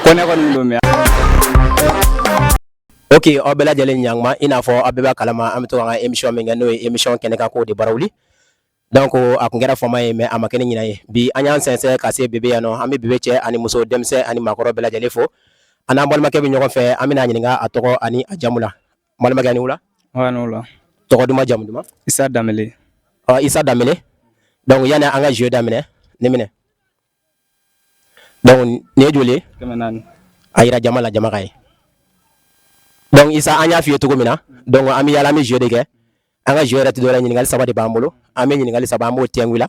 kɔnɛ kɔni don mɛ ok aw bɛɛ lajɛlen ɲanguma i n'a fɔ aw bɛɛ b'a kalama an bɛ to an ka emisiyɔn min kɛ n'o ye emisiyɔn kɛnɛ kan kow de barawili donc a kun kɛra fama ye mɛ a ma kɛ ni ɲina ye bi an y'an sɛnsɛn ka se bebe yan nɔ an bɛ bebe cɛ ani muso denmisɛn ani maakɔrɔ bɛɛ lajɛlen fo an n'an balimakɛ bɛ ɲɔgɔn fɛ an bɛn'a ɲininka a tɔgɔ ani a jamu la Balimakɛ aw ni wula? Aw ni wula. Tɔgɔ duman jamu duman? Isa Danbele. Ɔ Isa Danbele donc yani an ka jeu daminɛ nin minɛ donc nin ye joli ye? Kɛmɛ naani. A yira jama la jama k'a ye donc Isa an y'a f'i ye cogo min na donc an bɛ yaala an bɛ jeu de kɛ an ka jeu yɛrɛ tɛ dɔwɛrɛ ɲininkali saba de b'an bolo an bɛ ɲininkali saba an b'o kɛ i la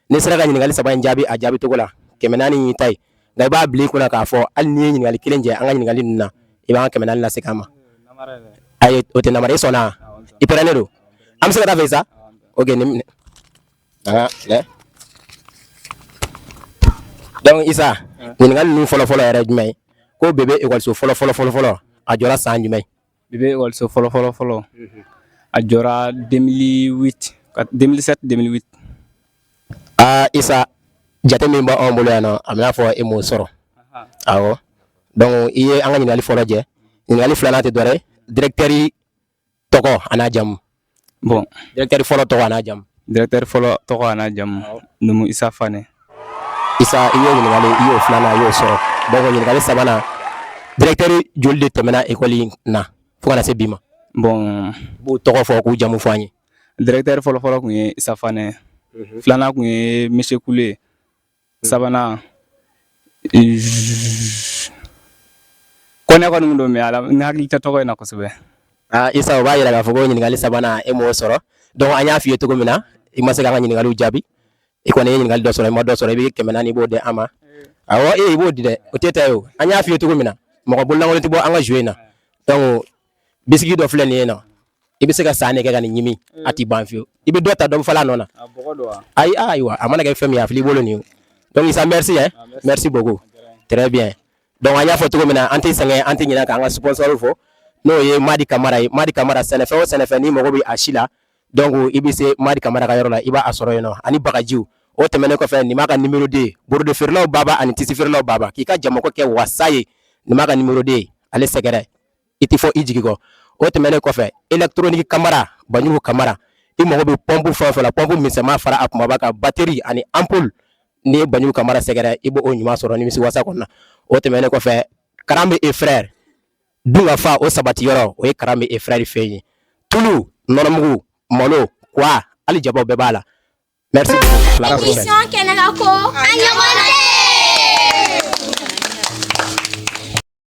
n'i sera ka ɲininkali saba in jaabi a jaabi cogo la kɛmɛ naani y'i ta ye nka i b'a bila i kun na k'a fɔ hali n'i ye ɲininkali kelen jɛ an ka ɲininkali ninnu na i b'an kɛmɛ naani lasegin an ma ayi o tɛ nanbara ye i sɔnna i parelen don an bɛ se ka taa a fɛ sa ok nin minɛ dɔnku isa ɲininkali ninnu fɔlɔfɔlɔ yɛrɛ jumɛn ko bebe ekɔliso fɔlɔ fɔlɔ fɔlɔ fɔlɔ a jɔra san jumɛn I bɛ waso fɔlɔ fɔlɔ fɔlɔ a jɔra ka denmisɛnninmi denmisɛnninmi aa isa ja min b' anw bolo yan na a y'a fɔ e mɔ sɔrɔ ɔ dɔnku i ye an ka ɲininkali fɔlɔ lajɛli filanan tɛ dɔɛrɛ dteriri tɔgɔ an' jamumu bon directeur fɔlɔ tɔgɔ n'a jamu directeur fɔlɔ tɔgɔ n'a jamu numu isa fane isa i ye ɲininkali i y'o filanan i y'o sɔrɔ donc ɲininkali sabanan directeur joli de tɛmɛna ekɔli in na fo ka na se bi ma bon i b'u tɔgɔ fɔ k'u jamu fɔ an ye directeur fɔlɔ fɔlɔ kun ye isa fane mhm. filanan kun ye monsieur kule sabanan kɔnɛ kɔni don mɛ ala n hakili tɛ tɔgɔ in na kosɛbɛ ah, isa o b'a yira k'a fɔ ko ɲininkali sabanan e m'o sɔrɔ donc an y'a f'i ye cogo min na i ma se k'an ka ɲininkaliw jaabi i kɔni ye ɲininkali dɔ sɔrɔ i ma dɔ sɔrɔ i bɛ kɛmɛ naani i b'o di an ma awɔ e i b'o di dɛ o t'i ta ye o an y'a f'i ye cogo min na mɔgɔ bololankolon tɛ bɔ an ka jeu in na donc bisiki dɔ filɛ nin ye na i bɛ se ka san nɛgɛ ka nin ɲimi a tɛ ban fiyewu i bɛ dɔ ta dɔ fala nɔ na ayi ayiwa a mana kɛ fɛn min a filɛ i bolo nin donc isa merci hein merci beaucoup très bien donc an y'a fɔ cogo min na an tɛ sɛgɛn an tɛ ɲinɛ k'an ka sponsor fɔ n'o ye Madi Kamara ye Madi Kamara sɛnɛfɛn o sɛnɛfɛn n'i mago bɛ a si la donc i bɛ se Madi Kamara ka yɔrɔ la i b'a sɔrɔ yen nɔ ani bagajiw o tɛmɛnen kɔfɛ nin b'a ka nimero de ye borode feerelaw baba ani tisi feerelaw baba k'i ka jamako kɛ wasa ye nin b'a ka nimero de ye ale sɛgɛrɛ i tɛ fɔ i jigi kɔ o tɛmɛnen kɔfɛ elegitoroniki kamara banjugu kamara i mago bɛ pɔnpu fɛn fɛ pɔnpu misɛnma fara a kumaba kan bateri ani anpuli n'i ye banjugu kamara sɛgɛrɛ i b' o ɲuman sɔrɔ nimisiwasa kɔnɔ na o tɛmɛnen kɔfɛ karanbe e frɛri dunkafa o sabati yɔrɔ o ye karanbe e frɛri fɛ ye tulu nɔnɔmugu malo kwa hali jaba bɛɛ b'a la